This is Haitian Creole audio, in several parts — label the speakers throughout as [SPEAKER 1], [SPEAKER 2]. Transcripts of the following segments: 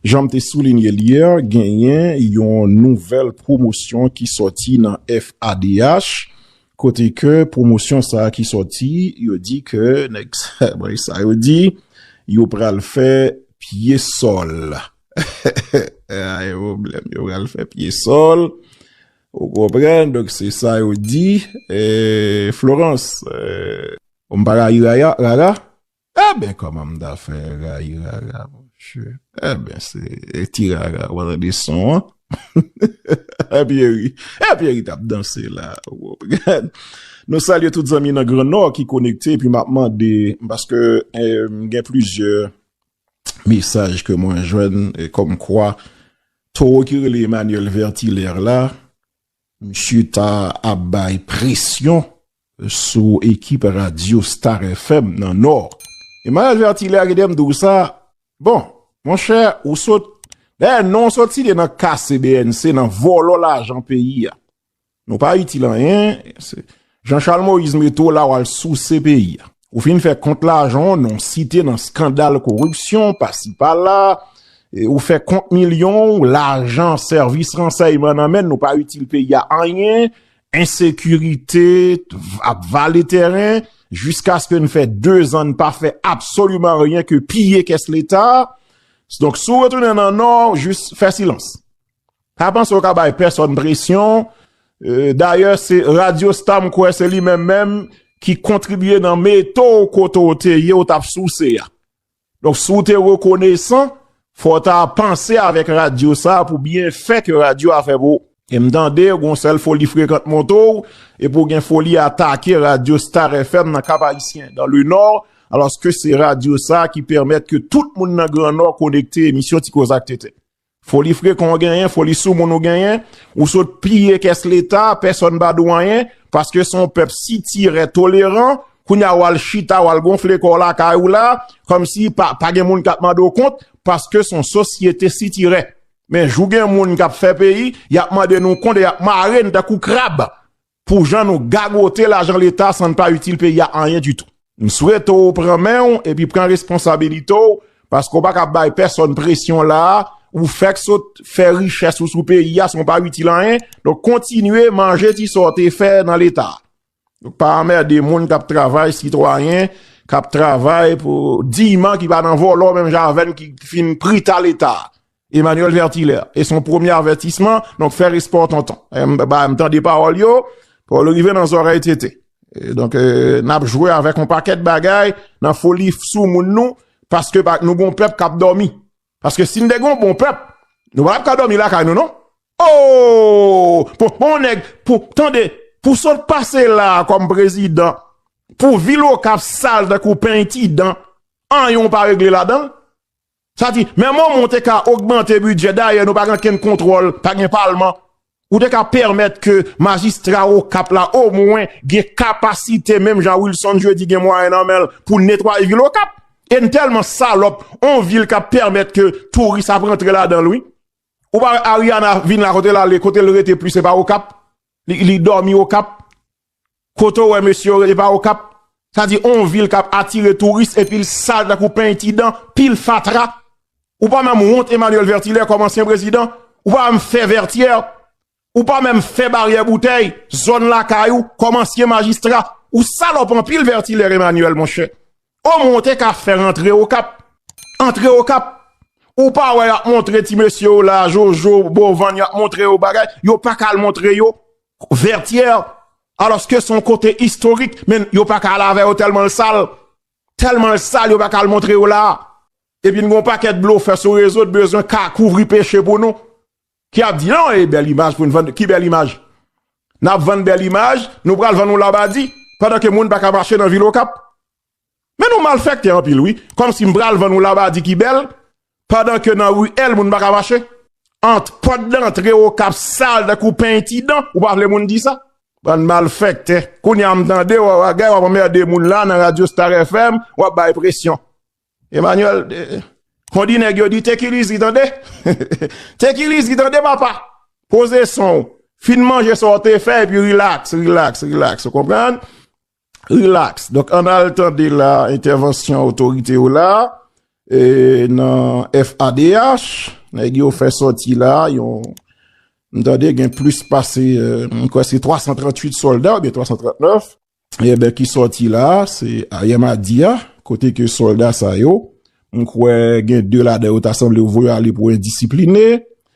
[SPEAKER 1] Jan m te soulinye l yè, genyen yon nouvèl pwomosyon ki sòti nan FADH, kote ke pwomosyon sa ki sòti, yo di ke nèg sa yo di, yo pral fè pye sòl. Eehh e pwoblèm, yo pral fè pye sòl, ou konprann, donk se sa yo di, Florence. Ou m pa rayi rara, Eben koman m ta fè rayi rara monche eben se ti rara wa tande son an Pierry eh Pierry tap danse la nou salye tout zanmi nan gran nò ki konekte epi map mande paske m gen plizyè mesaj ke mwen jwenn kom kwa towo ki rele Emmanuel Vertilaire la Misye ta ap bay presyon sou ekip radyo Star FM nan Nò. E Maryaj Vertilè a kite m di w sa, bon, monchè, ou sot, dayè non w sot site nan kase bnc, nan vòlò lajan peyi a. Nou pa itil anyen, Jean Charles Moïse mete w la w al souse peyi a. Ou fin fè kont lajan w non site nan skandal koripsyon pasi pala, ou fè kont milyon w, lajan sèvis ransèyman nan men nou pa itil peyi a anyen, ensekirite ap vale tèren, jiskaske n fè 2 zan n pa fè absoliman anyen ke piye kès leta. Donk sou retounen nan nò, jis fè silans. Pa panse w ka bay pèsòn presyon, dayè se Radio Star m kwè se li menm menm ki kontribye nan mete w kote w te ye w t ap souse a. Donk si w te rekonesan, fò w ta panse avèk radyo sa pou byenfè ke radyo a fè pou w. E m tande w gon sèl foli frekant monte w e pou w gen foli atake Radio Star FM nan Kap Ayisyen, dans le Nord, alòske se radyo sa ki pèmèt ke tout moun nan Gran Nò konekte emisyon Ti Koze ak Tenten. Foli frekon ou genyen, foli soumoun ou genyen, ou sot piye kès leta, pèsòn pa di w anyen, paske se yon pèp sitirè, toleran, kounye a ou al chita, ou al gonfle kò w lakay ou la, kòm si pa gen moun k ap mande w kont, paske se yon sosyete sitirè. Men jou gen moun k ap fè peyi, y ap mande nou kont e y ap mare n tankou krab. pou jan nou gagote lajan leta san n pa itil peyi a anyen ditou. M swete w pran men w epi pran responsabilite w paske w pa ka bay pèsòn presyon la a, ou fèk sot fè richès ou sou peyi a san w pa itil anyen, donk kontinye manje ti sa w te fè nan leta a. Donk pa anmède moun k ap travay, sitwayen k ap travay pou diyman ki pa nan vòlò menm jan avè n ki fin prita leta a. Emmanuel Vertilaire, e son premye avètisman, donk fè respè w tonton. M tande pawòl yo, pou l rive nan zòrèy Tete. Donk, n ap jwe avèk yon pakèt bagay nan foli sou moun nou, paske nou gon pèp k ap dòmi. Paske si n te gon bon pèp, nou pa t ap ka dòmi lakay nou non. Ooh! Pou yon nèg, pou, tande, pou sa w pase la kòm prezidan, pou vil Okap sal tankou pen ti dan, anyen w pa regle ladan l? Sa di, men moman ou te ka ogmante bidjè, dayè nou pa gen kenn kontwòl, pa gen palman, ou te ka pèmèt ke majistra Okap la omwen gen kapasite menm jan Wilson Jeudi gen mwayen nan menl pou netwaye vil Okap. E n tèlman salòp, on vil kap pèmèt ke touris ap rantre ladanl wi. Ou pa wè Ariana vin la kote lale, kotel rete plis se pa Okap, li dòmi Okap. Kote w wè mesye yo rele pa okap sa di on vil kap atire touris epil sal tankou peny ti dan pil fatra ou pa menm wont Emmanuel Vertilaire kòm ansyen prezidan ou pa menm fè vètyèr ou pa menm fè baryè boutèy zòn lakay ou kòm ansyen majistra ou salòp anpil Vertilaire Emmanuel monchè o mwen w te ka fè rantre okap antre okap ou pa wè yap montre ti mesye yo la jojo bovan yap montre yo bagay yo paka al montre yo Vertière alòske son kote istorik men yo paka al avè yo tèlman l sal tèlman l sal yo paka al montre yo la epi n gon pakèt blofè sou rezo n bezwen ka kouvri peche pou nou ki ap di nan e bèl imaj pou n vann ki bèl imaj n ap vann bèl imaj nou pral vann yon labadi pandan ke moun paka mache nan vil okap. Men nou malfèktè anpil wi, kòmsi m pral vann yon labadi ki bèl pandan ke nan ruelle moun pa ka mache? Ant pòt dantre Okap sal tankou peny ti dan, ou pa vle moun di sa? Bann malfèktè, kounye a m tande w ap agay w ap anmède moun la nan radyo Star FM, w ap bay presyon. Emmanuel, kondi nèg yo di take it easy tande, take it easy tande papa, poze son w, fin manje sa w te fè epi relax, relax, relax, ou konprann? Relax, donk an al tande la entèvansyon otorite yo la nan FADH, nèg yo fè sòti la, yon m tande gen plis pase m kwè se 338 sòlda oubyen 339, e ben ki sòti la, se ayè madi a, kote ke sòlda sa yo, m kwè gen 2 ladan yo ta sanble yo voye ale pou endisipline,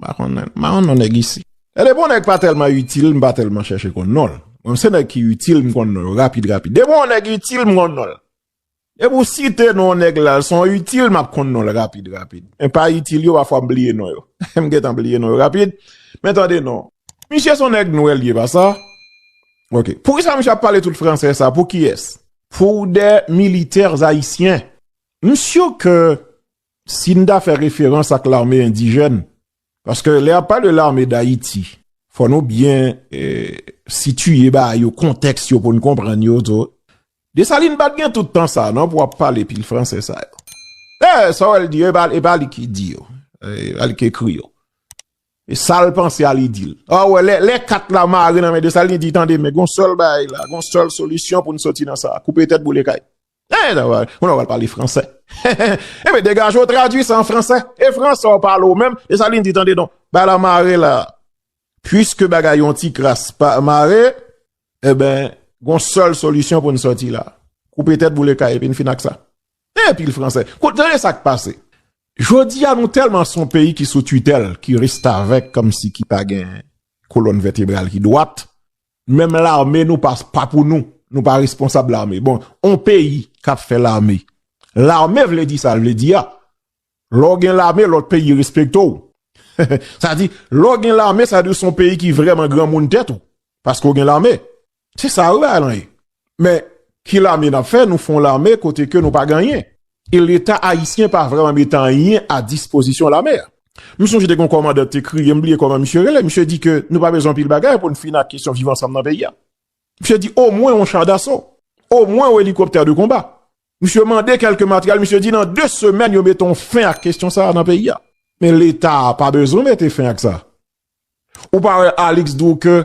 [SPEAKER 1] M pa konn m pa konn non nèg isi. Gade bon nèg pa tèlman itil m pa tèlman chèche konn non l. Bon se nèg ki itil m konn non yo rapid rapid. Depi yon nèg itil m konn non l. Depi ou site non yon nèg la se yon itil m ap konn non l rapid rapid. Men pa itil yo pafwa m bliye non yo. M gentan bliye non yo rapid. Men tande non. Misye se yon nèg nwè l ye pa sa? Ok. Poukisa misye ap pale tout fransè sa pou kiyès? Pou des militaires haïtiens. M sure ke Si n ta fè referans ak lame endijèn, paske lè y ap pale lame Dayiti, fò nou byen sitiye ba yo kontèks yo pou n konprann yo tou. Desalin pa t gen tout tan sa a non pou ap pale pil franse sa yo. Dayè, sa w wè l di yo, e pa li ki di yo, e pa li ki ekri yo. E sa l panse a li di l. A wè, lè kat la mare nan men Desalin, li di, tande men, gen yon sèl bagay la, gen yon sèl solisyon pou n soti nan sa a, koupe tèt boule kay. Eeh sa va Ou nan pral pale fransè Hehe Enben degaje w tradui sa an fransè E fransè w pale w menm E sa li di tande non Ba la mare la Puiske bagay yon ti kras pa mare Enben Gon sèl solisyon pou n sòti la Koupe tèt boule kay epi n fin ak sa Eeh pil fransè Koute tande sa k pase Jodi a nou tèlman son peyi ki sou titèl ki restavèk kòmsi ki pa gen kolòn vètebral ki dwat Menm lame nou pas pa pou nou nou pa responsab lame bon on peyi kap fè lame lame vle di sal vle di a lè ou gen lame lòt peyi respekte ou sa di lè ou gen lame sa di son peyi ki vrèman granmoun tèt ou paske ou gen lame se sa wi bagay lan ye. Men, ki lame nap fè, nou fon lame kote ke nou pa gen anyen. E leta ayisyen pa vreman met anyen a dispozisyon lame a. M sonje te gen yon kòmandan te kriye, m bliye kòman misye rele, misye di ke nou pa bezwen anpil bagay pou n fini ak kesyon viv ansanm nan peyi a. Misye di omwen yon cha daso, omwen yon elikoptè de konba. Misye mande kelke materyèl, misye di nan 2 semèn yo mete yon fen ak kesyon sa a nan peyi a. Men leta pa bezwen mete fen ak sa. Ou pa wè Alix di w ke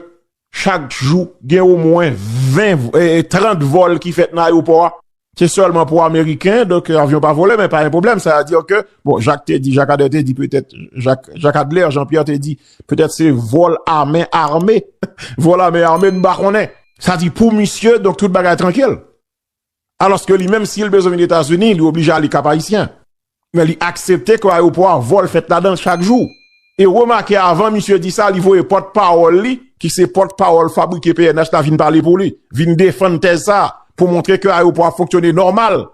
[SPEAKER 1] chak jou gen omwen 20, 30 vòl ki fèt nan ayewopò a? Se sèlman pou ameriken, donk avyon pa vole men pa gen pwoblèm, sa a dire ke, bon Jacques te di, Jacques Adler te di petèt, Jacques Adler, Jean Pierre te di petèt se vòl a men ame, vòl a men ame m pa konnen. Sa di pou misye donk tout bagay trankil? Alòske li menm si l bezwen vin Etazini, li oblije ale Kap Ayisyen. Men li aksepte ke ayopò a vòl fèt ladan l chak jou. E remake avan misye di sa, li voye pòt pawòl li, ki se pòt pawòl fabrike pnh la vin pale pou li, vin defann tèz sa a, pou montre ke ayopò a fonksyone nòmal.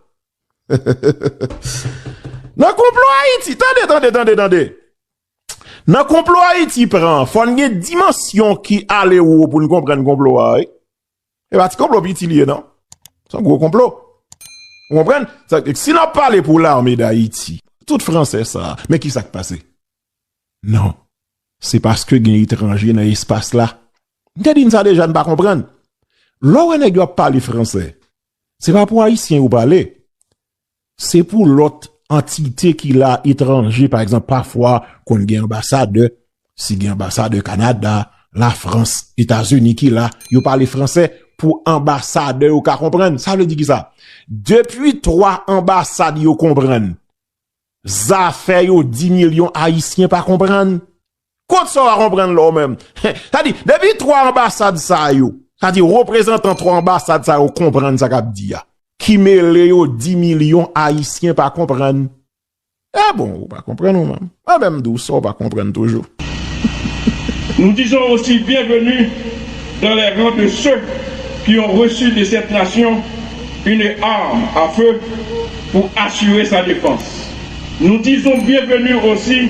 [SPEAKER 1] Nan konplo Ayiti, tande, tande, tande, tande. Nan konplo Ayiti pran, fò n gen dimansyon ki ale wo pou n konprann konplo a wi. E ba ti konplo piti liye nan. Se yon gwo konplo. Ou konpren? Si nan pale pou l'armée d'Haïti, tout français sa, men ki sak pase? Non. Se paske gen etranje nan espas la. M te di n sa deja n pa konpren. Lè ou wè nèg yo ap pale français, se pa pou Haïtien yo pale. Se pou lòt antite ki la etranje, pa egzanp, pafwa konn gen anbasadè, si gen anbasadè Kanada, Lafrans, Etazini ki la, yo pale franse pou anbasadè yo ka konprann. Sa vle di ki sa? Depi 3 anbasad yo konprann, zafè yo 10 milyon Ayisyen pa konprann. Kot sa w a konprann la w menm? Sa di, depi 3 anbasad sa yo, sa di reprezantan 3 anbasad sa yo konprann sa k ap di a. Ki mele yo di milyon Ayisyen pa konprann. E bon, ou pa konprann ou menm. Mwen menm di w sa w pa konprann toujou.
[SPEAKER 2] Nous disons aussi bienvenue dans les rangs de ceux qui ont reçu de cette nation une arme à feu pour assurer sa défense. Nous disons bienvenue aussi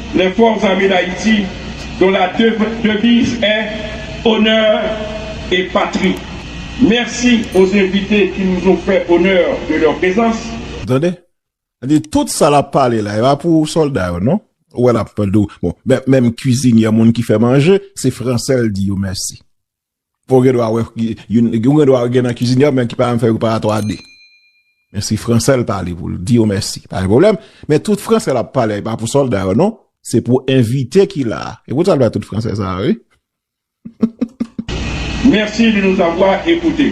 [SPEAKER 2] Les Forces Armées d'Haïti, dont la devise est Honneur et Patrie. Merci aux invités qui nous ont fait honneur de leur présence. Ou tande?
[SPEAKER 1] Sa vle di tout sa lap pale la e pa pou solda yo non. Ou wè lap pale de bon menm kwizinyè moun ki fè manje se fransè l di yo mèsi. Ou gen dwa wè youn, ou gen dwa gen nan kizini an men ki pa menm fè preparatwa a 2. Men si franse l pale pou l di yo mèsi, pa gen pwoblèm. Men tout franse l ap pale a e pa pou sòlda yo non, se pou envite ki la a. Se pou sa l bay tout franse sa a wi.
[SPEAKER 2] Mèsi di nou ta vwa e koute.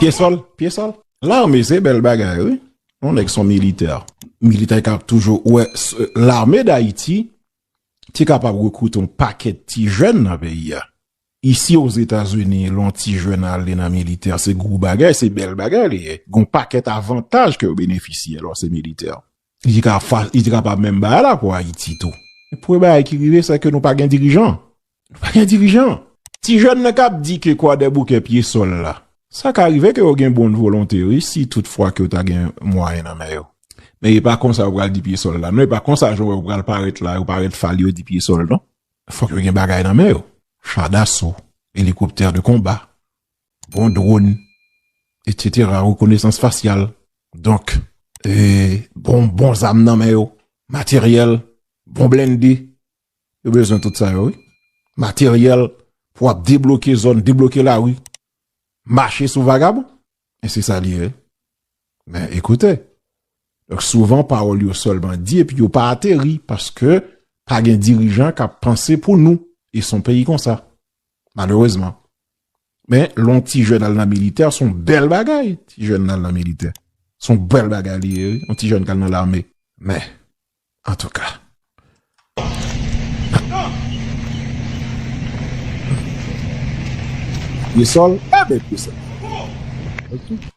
[SPEAKER 1] Pye sol, pye sol. Lame se bel bagay wi. Yon nèg son militè. Militè ki ap toujou wè lame d'Ayiti te kapab rekrite yon pakèt ti jèn nan peyi ya. Isi o Zetazini, lè yon ti jèn ale nan militè se gwo bagay, se bel bagay li ye. Gon pakèt avantaj ke yo benefisye lè w se militè. Li ka fas, li te kapab menm bay la pou Ayiti tou. Men premye bagay ki rive se ke nou pa gen dirijan. Nou pa gen dirijan. Ti jèn nan kap di ke Kwadèboukè pye sòl la. Sa ka rive ke yo gen bon volonte wi si tout fwa ke yo ta gen mwayen nan men yo. Men e pa konsa yo pral di pye sòl la non. E pa konsa jan ou wè yo pral parèt la, yo parèt fal yo di pye sòl non. Fòk yo gen bagay nan men yo. Cha daso, elikoptè de konba. Bon drone etc rekonesans fasyal donk bon bon zam nan men yo materyèl bon blende yo bezwen tout sa yo wi materyèl pou ap debloke zòn debloke lari mache sou vagabon men se sa li ye men ekoute donk souvan pawòl yo sèlman di epi yo pa ateri paske pa gen dirijan k ap panse pou nou e son peyi konsa malerezman. Men, lè yon ti jèn al nan militè, se yon bèl bagay, ti jèn nan al nan militè. Se yon bèl bagay li ye wi, yon ti jèn k al nan lame. Men, antouka. Pye sòl, e ben pye sòl. Antouka.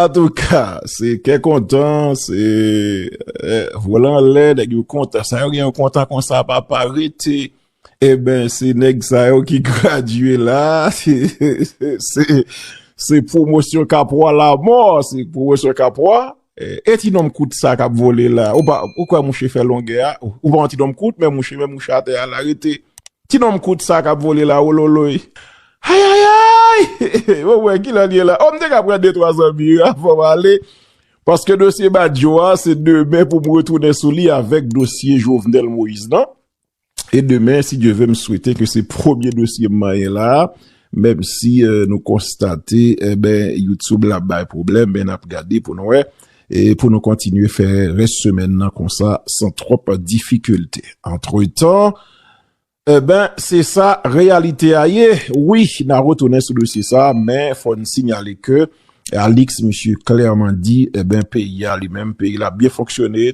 [SPEAKER 1] Antouka, se kè kontan, se vole anlè, nèg yo kontan. Sa yo gen yon kontan konsa pa pa rete. E eh ben, se nèg sa yo ki gradye la. Se pwomosyon kapwa la mò, se pwomosyon kapwa. E ti nonm kout sa kap vole la ou kwè mouche fè longè a ou pa yon ti nonm kout men mouche men mouche atè a la rete ti nonm kout sa kap vole la wololoy ayayayy bon mwen kilè liye la oh m te ka pran de twa zanmi yo avan m ale paske dosye badjo a se demen pou m retounen sou li avèk dosye Jovenel Moïse nan. E demen, si Dye ve, m swete ke se premye dosye m manyen la, menm si nou konstate, enben, YouTube la bay pwoblèm, men n ap gade pou n wè, e pou nou kontinye fè rès semèn nan konsa, san twòp difikilte. Antretan, enben, se sa reyalite a ye. Wi, n a retounen sou dosye sa, men fò n sinyale ke Alix, misye klèman di, enben, peyi a li menm, peyi l ap byen fonksyone,